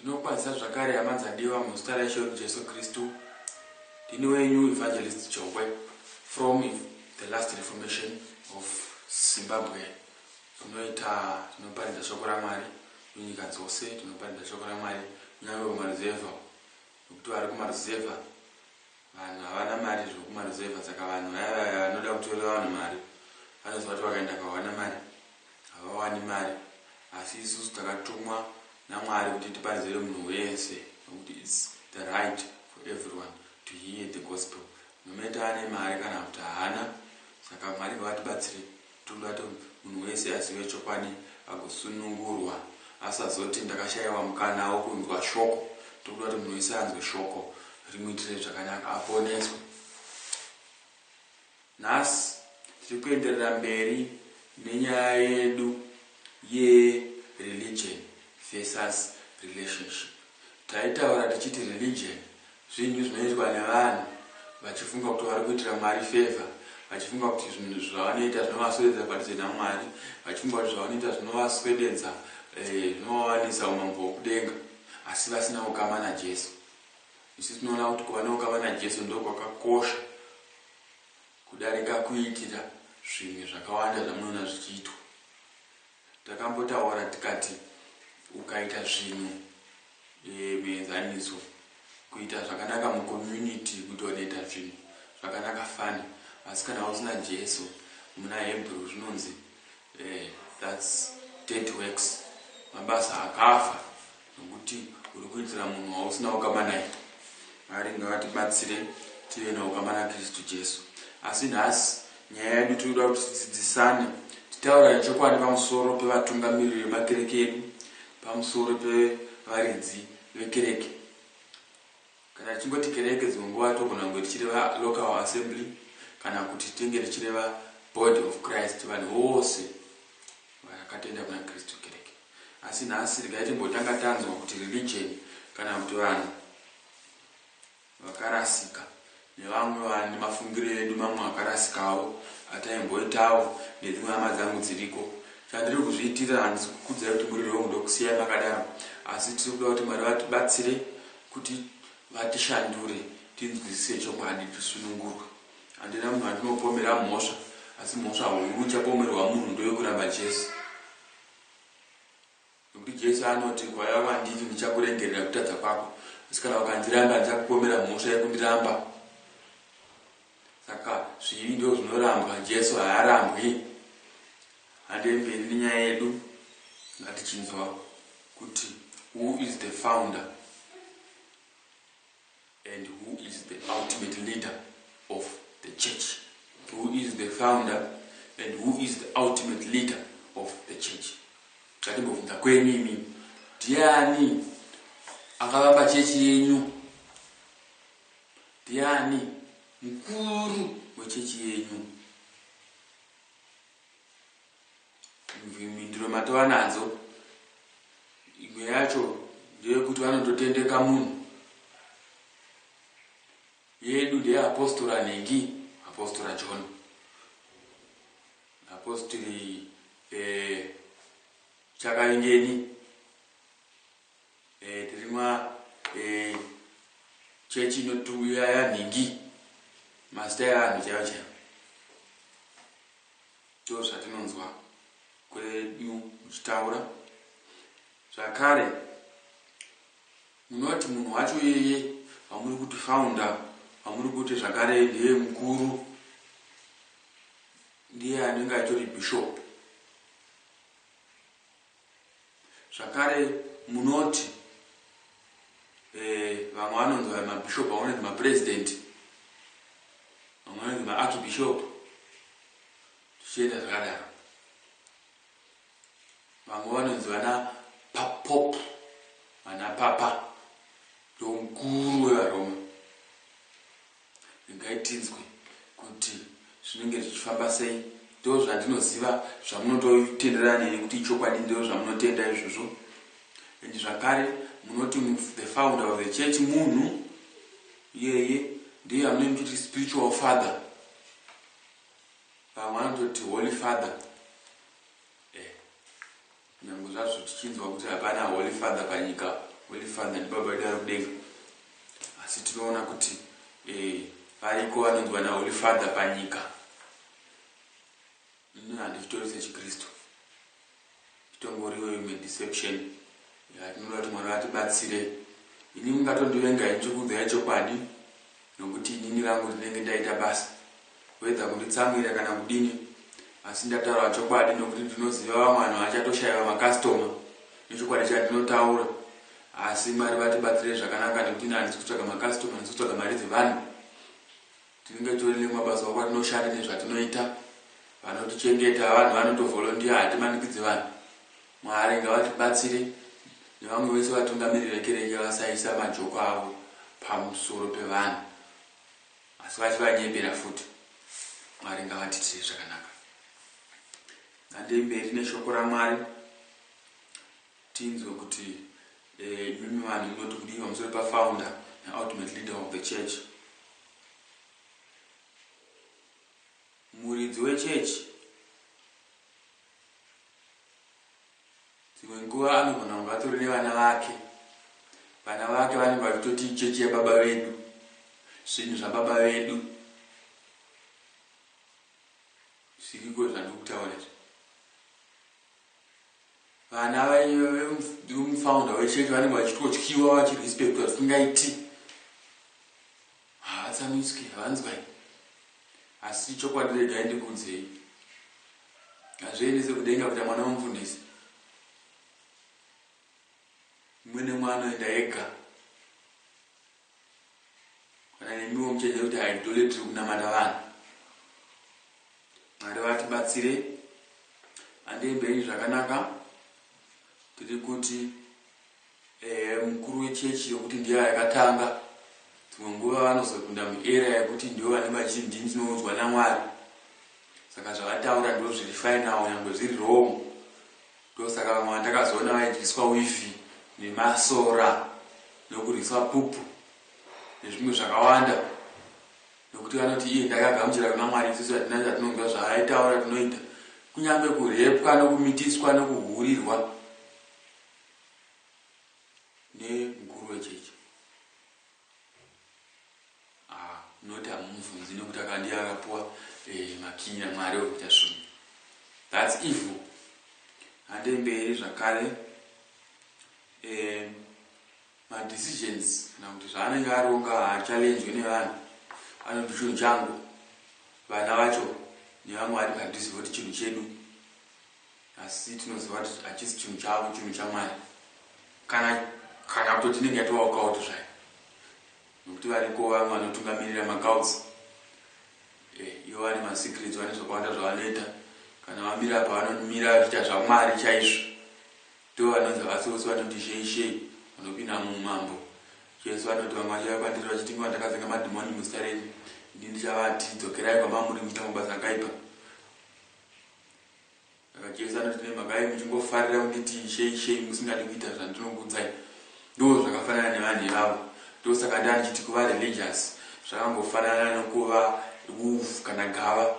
Ndinokwazisa zvakare hama dzadiwa muzita raIshe wedu Jesu Kristu. Ndini wenyu Evangelist Jongwe from the last reformation of Zimbabwe. Tinoita tinoparidza shoko raMwari munyika dzose, tinoparidza shoko raMwari kunyangwe kumaruzevha nokuti vari kumaruzevha Vanhu havana mari zvokumaruzevha saka vanhu vaya vaya vanoda kutorera vanhu mari vanoziva kuti vakaenda kwawana mari havawani mari asi isusu takatumwa naMwari kuti tiparidzire munhu wese nokuti it's the right for everyone to hear the gospel no matter ane mari kana kuti haana saka Mwari ngavatibatsire Toda kuti munhu wese azive chokwadi agosunungurwa asazoti ndakashaiwa mukana wokunzwa shoko. Toda kuti munhu wese anzwe shoko rimuitire zvakanaka aponeswe. Nhasi tiri kuenderera mberi nenyaya yedu ye Religion versus Relationship. Taitaura tichiti Religion Zvinhu zvinoitwa nevanhu vachifunga kuti vari kuitira Mwari favour, vachifunga kuti zvinhu zvavanoita zvinovaswededza padhuze naMwari, vachifunga kuti zvavanoita zvinovaswededza, zvinovawanisa umambo hwokudenga, asi vasina ukama naJesu. Isu tinoona kuti kuva noukama naJesu ndokwakakosha kudarika kuitira zvimwe zvakawanda zvamunoona zvichiitwa. Takambotaura tikati ukaita zvinhu muenzaniso kuita zvakanaka mucommunity kuti wanoita zvinhu zvakanaka fani asi kana usina Jesu muna Hebrew zvinonzi thats dead works mabasa akafa. nokuti uri kuitira munhu wausina ukama naye. Mwari ngavatibatsire tive naukama naKristu Jesu. Asi nhasi nyaya yedu tiri kuda kuti tidzidzisane, titaurane chokwadi pamusoro pevatungamiriri vemakereke edu, pamusoro pevaridzi vekereke. Kana tichingoti kereke dzimwe nguva togona kunge tichireva local assembly kana kuti tinge tichireva body of Christ vanhu vose vakatenda kuna Kristu kereke. Asi nhasi regai timbotanga tanzwa kuti religion kana kuti vanhu vakarasika nevamwe vanhu nemafungiro edu mamwe akarasikawo ataimboitawo nedzimwe hama dzangu dziriko. Chandiri kuzviitira handisi kukudzai kuti murirewo mudokusiyai makadaro asi tiri kuda kuti Mwari vatibatsire Kuti vatishandure tinzwisise chokwadi tisunungurwe. Handina munhu wandinopomera mhosva asi mhosva huru ichapomerwa munhu ndoyokuramba Jesu. Nekuti Jesu anoti kwaiva kwandiri ndichakuregerera kutadza kwako asi kana ukandiramba ndichakupomera mhosva yekundiramba. Saka zvivi ndoo zvinorambwa Jesu haarambwi hande mberi nenyaya yedu ngatichinzwa kuti who is the founder and who is the ultimate leader of the church who is the founder and who is the ultimate leader of the church ngatimbobvunza kwenyu imi ndiani akavamba chechi yenyu Ndiani mukuru wechechi yenyu? Mhinduro matova nadzo. Imwe yacho ndeyekuti vanototendeka munhu. Yedu ndeyeapostora nhingi, apostora John. Apostori eh, Chakavingeni. Eh, tiri ma eh, chechi inotuya yanhingi mazita evanhu chaivo chaivo ndo zvatinonzwa kwedu muchitaura zvakare munoti munhu wacho yeye vamuri kuti faunda vamuri kuti zvakare ndiye mukuru ndiye anenge atori bhishopu Zvakare munoti eh, vamwe vanonzi vari mabishop, vamwe vanonzi mapresident, vamwe vanonzi maarchbishop, zvichienda zvakadaro. Vamwe vanonzi vana papop, vana papa, ndomukuru wevaroma. Regai tinzwe kuti zvinenge zvichifamba sei. Ndozvandinoziva zvamunototenderana neni kuti ichokwadi ndozvamunotenda izvozvo. And zvakare munoti the founder of the church munhu iyeye ndiye amune muchiti spiritual father. Vamwe vanototi holy father. Nyangwe zvazvo tichinzwa kuti hapana Holy Father panyika, Holy Father ndiBaba vedu vari kudenga, asi tinoona kuti e, variko vanonzwa naHoly Father panyika. Ini handichitori sechiKristu, itongoriwo imwe deception yatinoda kuti Mwari vatibatsire. Ini mungatondivenga ini chikuudzai chokwadi. Nokuti inini rangu ndinenge ndaita basa whether kunditsamwira kana kudini asi ndataura chokwadi nokuti ndinoziva vamwe vanhu vachatoshaiva macustomer nechokwadi chandinotaura asi Mwari vatibatsire zvakanaka nokuti ini handisi kutsvaga macustomer handisi kutsvaga mari dzevanhu tinenge tori nemabasa avo kwatinoshanda nezvatinoita vanotichengeta vanhu vanotovolondiya hatimanikidzi vanhu Mwari ngavatibatsire nevamwe vese vatungamiri vekereke vasaisa majoko avo pamusoro pevanhu asi vachivanyebera futi. Mwari ngavatiitire zvakanaka. Ngandei mberi neshoko raMwari tinzwe kuti eh, imimi vanhu munoti kudii pamusoro pafounder neultimate leader of the church. Muridzi wechechi dzimwe nguva anogona kunge atori nevana vake vana vake vanenge vachitoti ichechi yababa vedu zvinhu zvababa vedu zviriko zvandiri kutaura izvi vana vemufounder wechechi vanenge vachitotyiwa vachirespectwa zvisingaiti Haatsamwiswi hanzwa iyi asi chokwadi regai ndikuudzei hazviendese kudenga kuita mwana wemufundisi mwene mwana anoenda ega kana nemiwo muchaiziva kuti haidole tiri kunamata vanhu mwari vatibatsire andei mberi zvakanaka tiri kuti Ehe mukuru wechechi yokuti ndiyo yakatanga dzimwe nguva vanozopinda muarea yekuti ndivo vanenge vachiti ndini ndinoudzwa namwari saka zvavataura ndizvo zviri final nyangwe zviri wrong ndosaka vamwe vandakazoona vaidyiswa wifi nemasora nokurwiswa pupu nezvimwe zvakawanda nokuti vanoti iye ndakagamuchira kuna mwari isusu hatina zvatinonzwa zvaaitaura tinoita kunyange kurepwa nokumitiswa nokuhurirwa nemukuru wechechi ah, not amumubvunzi nekuti akandiye akapuwa eh, makiyi namwari wekuita zvinhu thats evil hande mberi zvakare eh, madecisions kana kuti zvaanenge aronga haachallenjwe nevanhu anoti chinhu changu vana vacho nevamwe vari padhuzi voti chinhu chedu Asi tinoziva kuti hachisi chinhu chavo, chinhu chaMwari. Kana, kana kutoti inenge yatovaokawo kuti zvayo. Nokuti variko vamwe vanotungamirira macults. Eh, ivo vane masecrets, vane zvakawanda zvavanoita. Kana vamira apa vanomira vachiita zvaMwari chaizvo. Ndivo vanonzi havasi vose vanoti shei shei, vanopinda muumambo. Jesu vanoti vamwe vachauya kwandiri vachiti inguva ndakavenga madhimoni muzita renyu. Ini ndichavati, dzokerai kwamamuri muchita mabasa akaipa. Saka Jesu anoti, Nemhaka yei muchingofarira kunditi Ishe, Ishe, musingadi kuita zvandinokuudzai? Ndoo zvakafanana nevanhu ivavo. Ndosaka ndanga ndichiti kuva religious zvakangofanana nokuva wolf kana gava.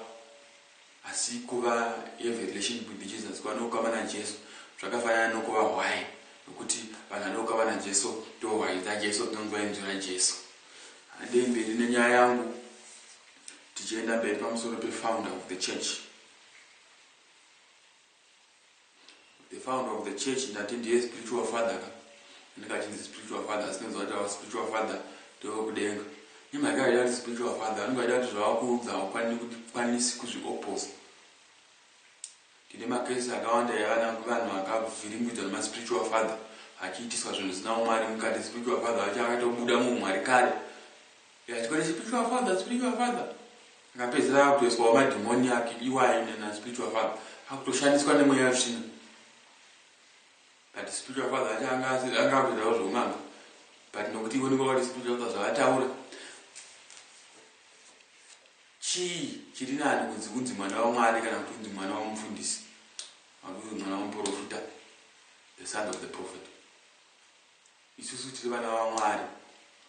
Asi kuva have a relationship with Jesus, kuva noukama naJesu, zvakafanana nokuva hwai, nokuti vanhu vane ukama naJesu ndoo hwai dzaJesu, dzinonzwa inzwi raJesu. Handei mberi nenyaya yangu tichienda mberi pamusoro peFounder of the Church. the founder of the church ndati ndiye spiritual father ka ndikachinzi spiritual father asi ndinonzwa kuti ava spiritual father ndewekudenga imhaka yaida kuti spiritual father anenge aida kuti zvavakuudza haukwanisi kuzvioposa tine makesi akawanda yevana vanhu vakavhiringidzwa nemaspiritual father achiitiswa zvinhu zvisina umwari mukati spiritual father vacho akatobuda muumwari kare Yeah, chikwane spiritual father, spiritual father. Akapedzera akutoiswa madhimoni ake iwayo nena spiritual father. Akutoshandiswa nemweya yetsvina. But spiritual father acha anga anga akutoitawo zveun'anga. But nokuti ivo ndivavati spiritual father zvavataura. Chii chiri nani kunzi kunzi mwana waMwari kana kuti kunzi mwana wamufundisi? Kana kuti mwana wamuprofita? The son of the prophet. Isusu tiri vana vaMwari,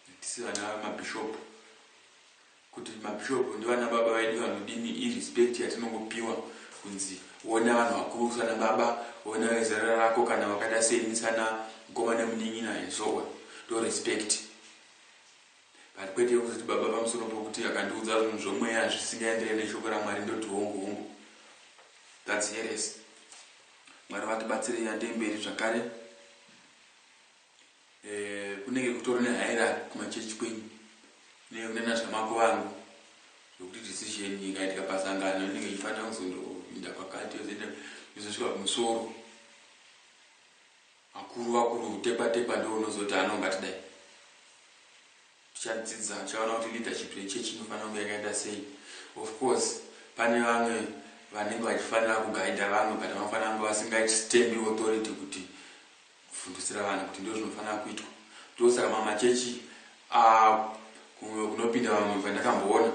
hatisi vana vamabhishopu. Kuti mabhishopu ndivana baba vedu vanodini irespect yatinongopiwa kunzi wona vanhu vakuru sana baba, wona vezera rako kana vakaita seni sana mukoma nemunin'ina and so on. Ndo respect. But kwete yokuzoti baba pamusoro pokuti akandiudza zvinhu zvomweya zvisingaenderere neshoko raMwari ndoti hongu hongu. That's heresy. Mwari vatibatsirei handei mberi zvakare. eh, kunenge kutori nehierarchy kumachechi kwenyu kunenge kune nazvamako vangu zvokuti decision ikaitika pasangano inenge ichifanira kuzondoinda pakati yozoenda yozosvika kumusoro vakuru vakuru tepa tepa ndo unozoti anongatidai Tichadzidza tichaona kuti leadership yechurch inofanira kunge yakaita sei. Of course pane vamwe vanenge vachifanira kuguider vamwe but vanofanira kunge vasingaiti stand authority kuti kufundisira vanhu kuti ndozvinofanira kuitwa. Ndosaka mamwe machechi aah kumwe kunopinda vamwe pandakamboona.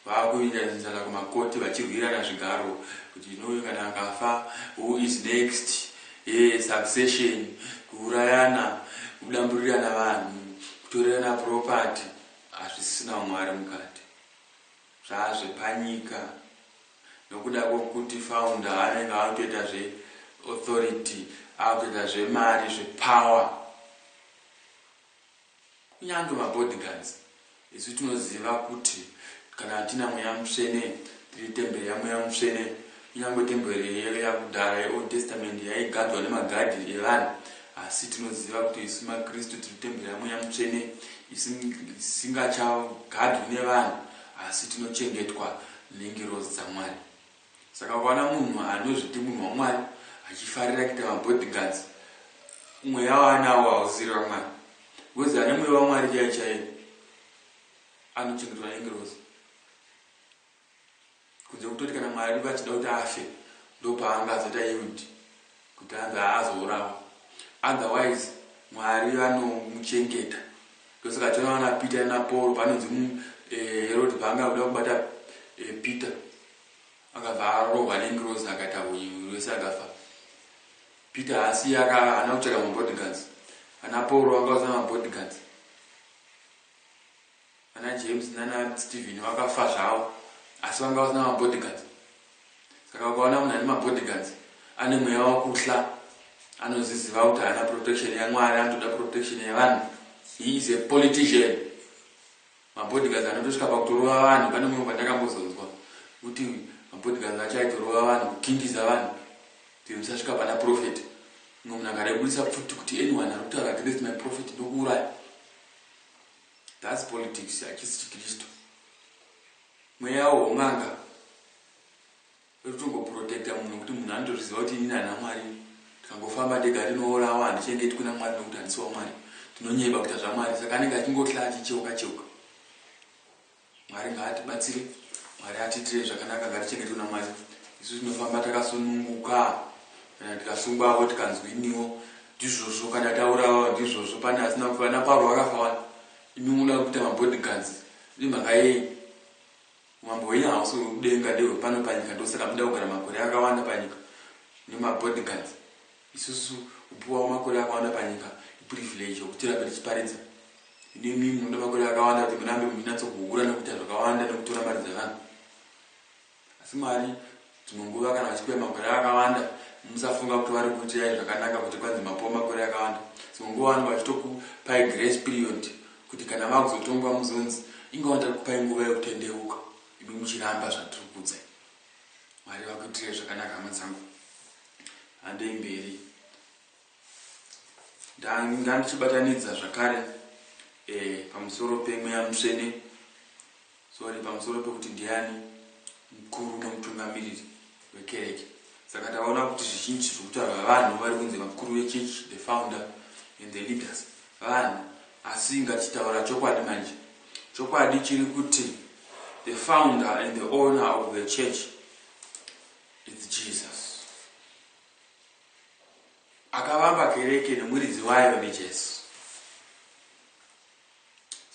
Vakuita zinsala kumakoti vachirwirana zvigaro kuti you know uyu kana akafa who is next eeh succession kuurayana kudamburirana vanhu kutorerana property hazvisina umwari mukati zvaazvepanyika nokuda kwokuti founder anenge akutoita zve authority akutoita zvemari zvepower Kunyange mabodyguards isu tinoziva kuti kana tina mweya mutsvene tiri temberi yamweya mutsvene. Kunyange temberi iyoyo yakudhara yeOld Testament yaigadwa nemagadhi evanhu asi tinoziva kuti isu maKristu tiri temberi yamweya mutsvene isingachagadwi nevanhu asi tinochengetwa nengirozi dzaMwari. Saka ukaona munhu anozviti munhu waMwari achifarira kuita mabodyguards, mweya waanawo hausiri waMwari. Because ane mweya waMwari chaiye chaiye anochengetwa nengirozi. Kunze kutoti kana Mwari vachida kuti afe ndopaanga azoita yield. Kutadza haazourawa otherwise Mwari vanomuchengeta ndosaka tinoona Peter na Paul panonzi umm Herod paanga akuda kubata Peter akabva arohwa ne ngirozi akaita hunyenyu rwese akafa Peter haasiye aka haana kutsvaga ma bodyguards ana Paul vanga vasina ma bodyguards Vana James nana Steven vakafa zvavo asi vanga vasina mabodyguards. Saka ukaona munhu ane mabodyguards ane mweya wekuhla anozviziva kuti haana protection yaMwari anotoda protection yevanhu. He is a politician. Mabodyguards anotosvika pakutorova vanhu pane mumwe pandakambozonzwa kuti mabodyguards acho aitorova vanhu kukingiza vanhu kuti musasvika pana prophet. Mumwe munhu akarebudisa pfuti kuti anyone ari kutaura against my prophet ndokuuraya. That's politics hachisi chikristu mweya won'anga wekutongoprotecta munhu nekuti munhu anotozviziva kuti inini ana mwari tikangofamba ndega ndinourawa handichengetwi namwari nekuti handisi wamwari ndinonyeba kuita zvamwari saka anenge achingotla achicheuka cheuka Mwari ngaatibatsire, Mwari atiitire zvakanaka ngatichengetwe naMwari. Isu tinofamba takasununguka kana tikasungwavo tikanzwiniwo ndizvozvo kana taurava ndizvozvo pane asina kufa na Pauro akafa wani imi munoda kuita mabodyguards nemhaka yei umambo hwenyu hausi hwekudenga ndehwepano panyika ndosaka muda kugara makore akawanda panyika nemabodyguards Isusu kupiwa makore akawanda panyika iprivilege yokuti tirambe tichiparidza. Ino imimi munoda makore akawanda kuti murambe muchinatsokuhura nekuita zvakawanda nekutora mari dzevanhu. Asi Mwari dzimwe nguva kana vachikupai makore akawanda, musafunga kuti vari kukuitirai zvakanaka kuti kwanzi mapiwa makore akawanda. Dzimwe nguva vanenge vachitokupai grace period kuti kana vava kuzotongwa muzonzi, Inga wandiri kupai nguva yokutendeuka imi muchiramba zvatiri kukuudzai. Mwari vakuitire zvakanaka hama dzangu hambei mberi ndanga ndichibatanidza zvakare eh, pamusoro pemweya mutsvene sorry pamusoro pekuti ndiani mukuru nemutungamiriri wekereke saka taona kuti zvizhinji zvekutaura vanhu vari kunzi vakuru vechechi the founder and the leaders Vanhu asi ngatitaura chokwadi manje chokwadi chiri kuti the founder and the owner of the church it's Jesus akavamba kereke nemuridzi wayo neJesu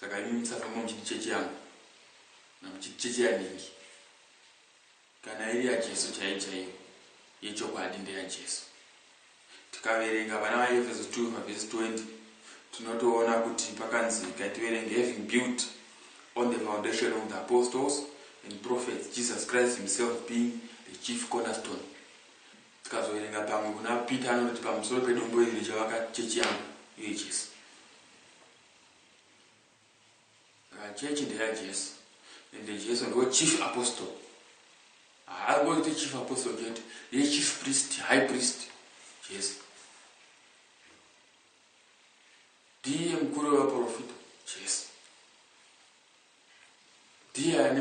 saka imi musafamba muchiti chechi yangu namuchiti chechi yaningi Kana iri yaJesu chaiyo chaiyo, yechokwadi ndeyaJesu. Tikaverenga pana vaEfeso 2 pavhesi 20, tinotoona kuti pakanzika tiverenge having built on the foundation of the apostles and prophets Jesus Christ himself being the chief cornerstone. Tikazoverenga pamwe kuna Peter anoti pamusoro pedombo iri richavaka chechi yangu, iyo Jesu. Saka church ndeyaJesu and Jesu ndiwo chief apostle. Haangoite chief apostle chete, ndiye chief priest, high priest Jesu. Ndiye mukuru wevaprofita Jesu. Ndiye ane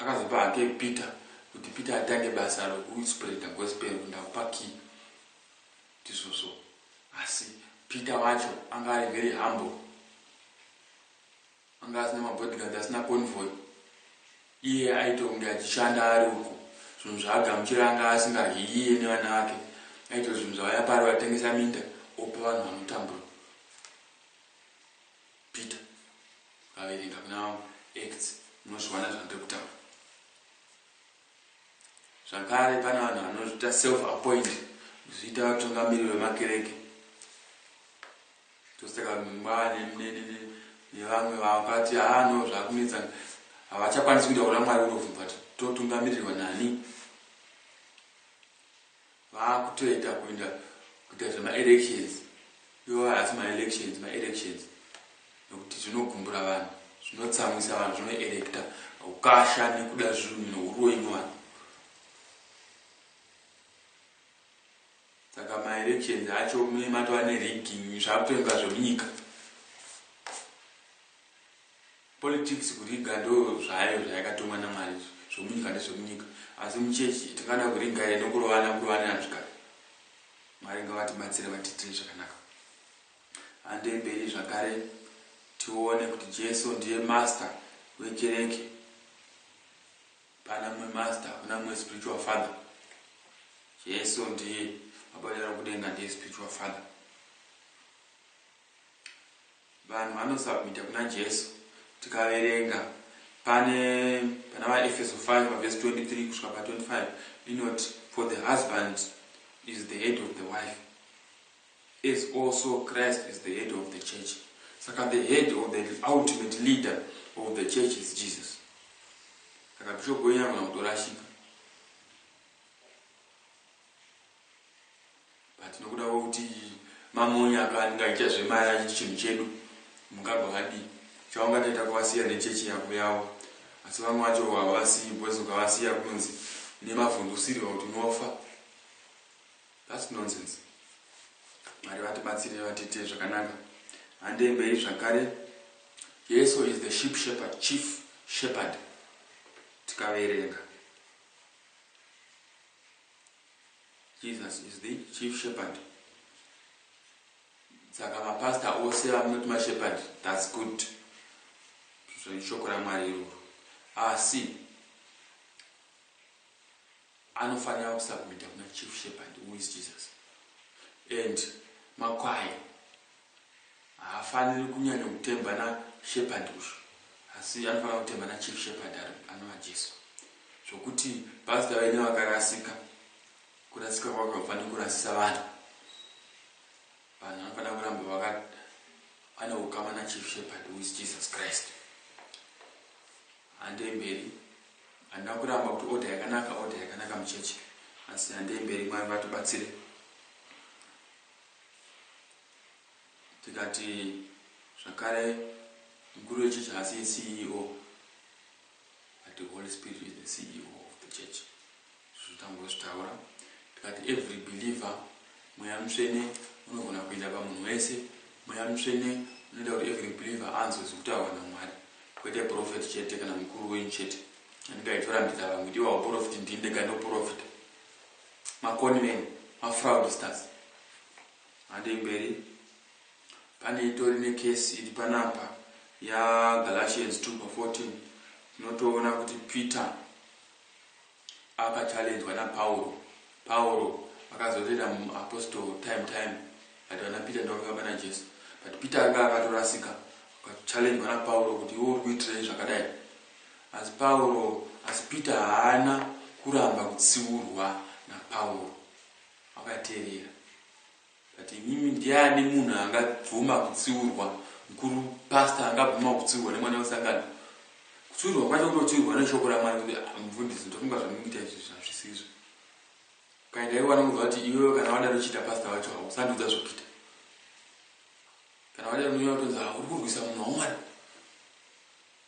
akazopa hake Peter kuti Peter atange basa rokuspreader gospel ndakupa key Tisoso asi Peter wacho anga ari very humble anga asina mabodyguards asina convoy iye aitonge achishanda ari uko zvinhu zvaagamuchira anga asingadyi iye nevana vake aitora zvinhu zvavaya pari vatengesa minda opa vanhu vanotambura Peter vaverenga kuna acts munozviwana zvandiri kutaura Zvakare pane vanhu vanozviita self appoint kuzviita vatungamiriri vemakereke tosaka mwana nevamwe vakati haa no zvakunetsa havachakwanisi kuita kuna mwari unovhumva totungamirirwa nani Vakutoita kuinda kuita zvema elections iwo haasi ma elections ma elections nokuti zvinogumbura vanhu zvinotsamwisa vanhu zvino electa ukasha nekuda zvinhu nouroi muvanhu saka ma elections acho mune matova ne rigging zvakutoinga zvemunyika Politics kuriga ndoo zvayo zvayakatumwa naMwari izvo zvemunyika ndezvemunyika asi muchechi tingada kuriga here nekurovana kurovanira zvigaro Mwari ngavatibatsire vatiitire zvakanaka handei mberi zvakare tione kuti Jesu ndiye master wekereke hapana mumwe master hakuna mumwe spiritual father Jesu ndiye Baba vedu vari kudenga ndiye spiritual father Vanhu vanosubmita kuna Jesu. Tikaverenga pane pana vaEfeso 5 pa verse 23 kusvika pa 25 inoti for the husband is the head of the wife as also Christ is the head of the church. Saka the head or the ultimate leader of the church is Jesus. Saka bishop wenyu anogona kutorashika. but nokuda kwekuti mamonya akaningaita zvemaya achiti chinhu chedu mungagwa madii chaungataita kuvasiya nechechi yako yavo asi vamwe vacho havasiyi bcause ukavasiya kunonzi nemavhundusirwa kuti unofa thats nonsense mwari vatibatsire vatiitire zvakanaka handei mberi zvakare jesu is the ship shepherd chief shepherd tikaverenga Jesus is the chief shepherd saka mapastor ose vamunoti mashepherd thats good shoko ramwari iroro asi anofanira kusabmita kuna chief shepherd who is jesus and makwai Haafaniri kunyanya kutemba na Shepherd uyu asi anofanira kutemba na Chief Shepherd anova Jesu. Zvokuti Pastor vaine vakarasika kurasika kwako hakufaniri kurasisa vanhu. Vanhu vanofanira kuramba vaka vane ukama na Chief Shepherd who is Jesus Christ. Handei mberi. Handina kuramba kuti order yakanaka order yakanaka muchechi asi handei mberi Mwari vatibatsire. Tikati zvakare mukuru wechechi haasiye CEO but the Holy Spirit is the CEO of the church. Izvo tambozvitaura tikati every believer mweya mutsvene unogona kuenda pamunhu wese. Mweya mutsvene unoita kuti every believer anzwe zvekutaurwa naMwari kwete profeti chete kana mukuru wenyu chete anenge aitorambidza vamwe ndiwo hauprofiti ndini ndega ndoprofita. Ma con men, ma fraudsters. Handei mberi. Pane itori ne case iri panapa ya Galatians 2 pa 14. Tinotoona kuti Peter akachallenjwa na Pauro. Pauro akazorera mu apostle time time. But vana Peter ndivo vakafamba na Jesu. But Peter anga akatorasika. Akachallenjwa na Pauro kuti iwe uri kuitirei zvakadai. Asi Pauro, asi Peter haana kuramba kutsiurwa naPauro. Wakaterera. But imimi ndiani munhu angabvuma kutsiurwa, mkuru pastor angabvuma kutsiurwa nemwana wesangano? Kutsiurwa kwacho kutotsiurwa neshoko raMwari kuti ah, mfundisi ndofunga zvamukuita izvi zvazvisizvo. Ukaenda iwe wanokuudza kuti iwewe kana wadaro chiita pastor wacho hausandudza zvekuita. Kana wadaro unotonzi ah, uri kurwisa munhu waMwari.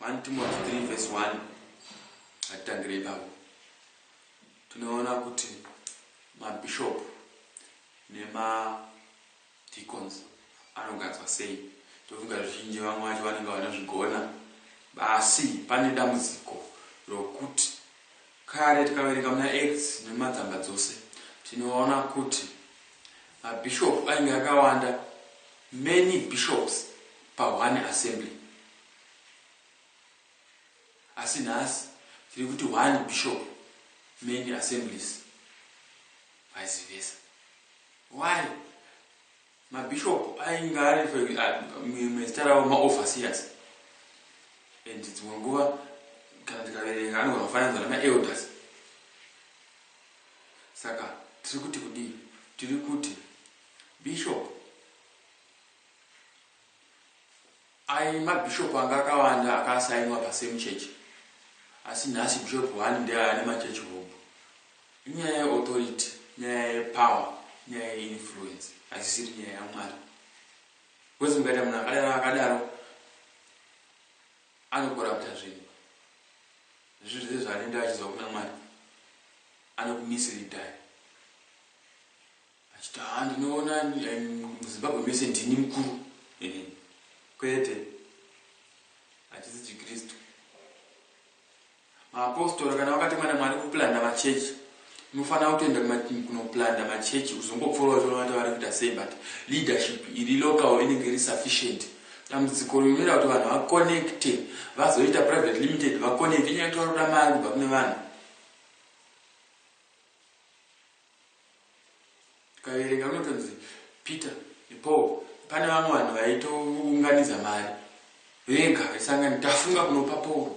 1 Timoti 3 vhesi 1 hatitangire ipapo tinoona kuti mabishop nemadicons anogadzwa sei tofunga zvizhinji vamwe vacho vanenge vanozvigona basi pane dambudziko rokuti kare tikaverenga muna acts nemadzamba dzose tinoona kuti mabishop ainge akawanda many bishops pa one assembly asi nhasi tiri kuti one bishop many assemblies vice versa why mabishop ainge ari mezita ravo maoverseers and dzimwe nguva kana tikaverenga anogona kufananidzwa namaelders saka tiri kuti kudii tiri kuti bishop Ayi mabishop anga akawanda akasainwa pa same church asi nhasi bishop one ndiye ane machurch hobho. Inyaya ye authority, nyaya ye power, nyaya ye influence haisisiri nyaya ya Mwari. Because mukaita munhu akadaro akadaro anokorapta zvinhu. Zvinhu zvese zvaanoita achizwa kuna Mwari anokumisleadai. Achiti haa ndinoona muzimbabwe mese ndini mukuru kwete hachisi chikristu maapostora kana vakatemwa namwari kuplanda machechi unofanira kutoenda kunoplanda machechi kuzongopfuura vachiona kuti vari kuita sei but leadership iri local inenge iri sufficient dambudziko rinoita kuti vanhu vaconnecte vazoita private limited vaconnecte inyaya kuti vari kuda mari kubva kune vanhu tikaverenga kunotonzi peter nepaul pane vamwe vanhu vaitounganidza mari vega vaisangani tafunga kunopa paul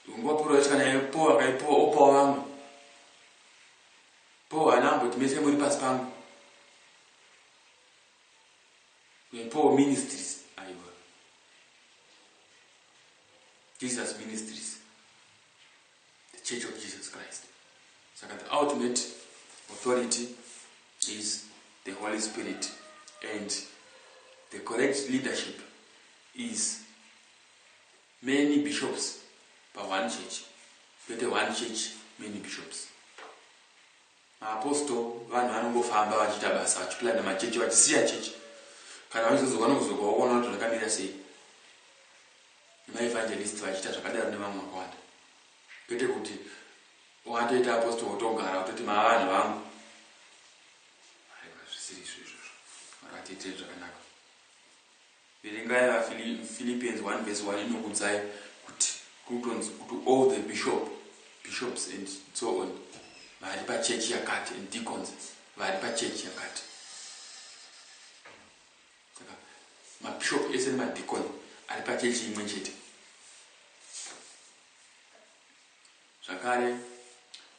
nguva paul vaisvika naye paul akaipoa opawo vamwe paul ana amboti mese muri pasi pangu nepaul ministries aiwa jesus ministries the church of jesus christ saka the ultimate authority is the holy spirit and the correct leadership is many bishops pa one church kwete one church many bishops maapostol vanhu vanongofamba vachiita basa vachiplana machechi vachisiya chechi kana vachizozova nokuzoka waona kuti zvakamirira sei Maevangelists vachiita zvakadaro nevamwe vakawanda. Kwete kuti watoita apostle wotogara wototi mavanhu vangu. Aiwa zvisiri izvo izvozvo. Mwari vatiitire zvakanaka. Verengai vaPhilippians 1 verse 1 inokudzai kuti kutonzi kuti all the bishop bishops and so on vari pachechi yakati and deacons vari pachechi yakati Saka mabishop ese nemadikoni ari pachechi imwe chete. Zvakare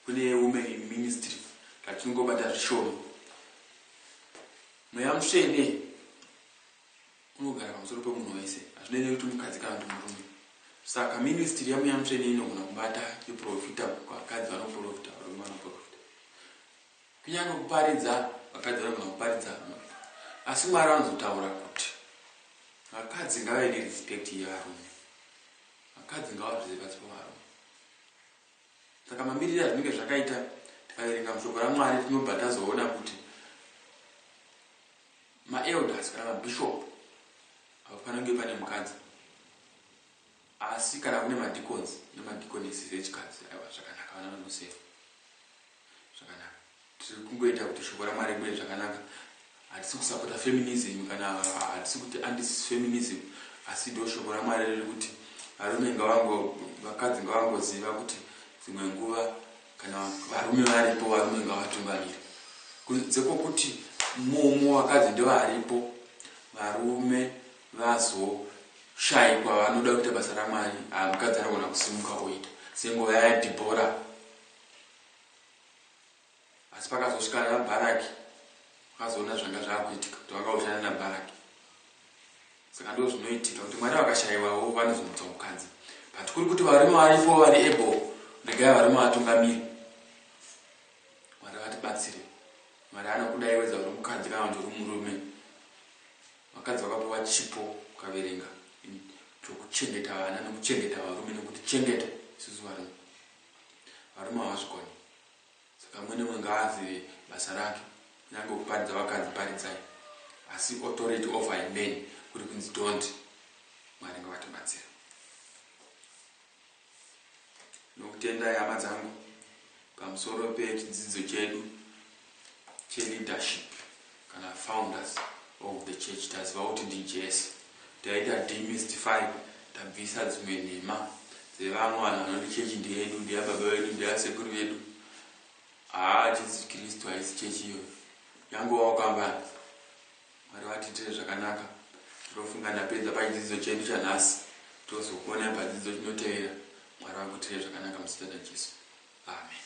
kune women in ministry tatinongobata zvishoma. Mweya mutsvene unogara pamusoro pemunhu wese, hazvinei nekuti mukadzi kana kuti murume. Saka ministry yamweya mutsvene inogona kubata yeprofita, vakadzi vanoprofita, varume vanoprofita. Kunyange kuparidza, vakadzi vanogona kuparidza mumba. Asi Mwari vanozotaura kuti vakadzi ngavave nerespect yevarume. Vakadzi ngavazvize pasi pavarume. Saka mamirire azvinenge zvakaita tikaverenga mushoko raMwari tinobva tazoona kuti maelders kana mabishop hapafanenge pane mukadzi asi kana kune madicons nemadiconesses echikadzi aiwa zvakanaka vana vanosefa Zvakanaka. Tiri kungoita kuti shoko raMwari ribude zvakanaka. Hatisi kusapota feminism kana hatisi kuti anti-feminism asi do shoko raMwari riri kuti varume ngavango vakadzi ngavangoziva kuti dzimwe nguva kana varume varipo varume ngavatungamire kunze kwokuti mumo vakadzi ndovaripo varume vazoshaikwa vanoda kuita basa ramwari ah, mukadzi anogona kusimuka oita senguva yadhibhora asi pakazosvika ana bharaki vakazoona zvanga zvakuitika kuti vakaushana nabharaki saka ndo zvinoitika kuti mwari vakashaiwawo vanozomutsa mukadzi but kuri kuti varume varipo vari able regai varume vatungamiri mwari vatibatsire mwari anokudai wedza uri mukadzi kana kuti uri murume vakadzi vakapiwa chipo ukaverenga chokuchengeta vana nekuchengeta varume nekuti chengeta isusu varume Varume havazvikoni saka umwe neumwe ngaazive basa rake kunyange kuparidza vakadzi paridzai asi authority over a man kuri kunzi don't Mwari ngavatibatsire Ndinokutendai hama dzangu pamusoro pechidzidzo chedu cheleadership kana founders of the church taziva kuti ndijesu taita demystify tabvisa dzimwe nhema dzevamwe vanhu vanoti chechi ndeyedu ndeyababa vedu ndeyasekuru vedu haa jesu kristu haisi chechi iyoyo yangovawo kambani mwari vatiitire zvakanaka tinofunga ndapedza pachidzidzo chedu chanhasi tozokuonai padzidzo chinotevera mwari vakuitire zvakanaka muzita rajesu amen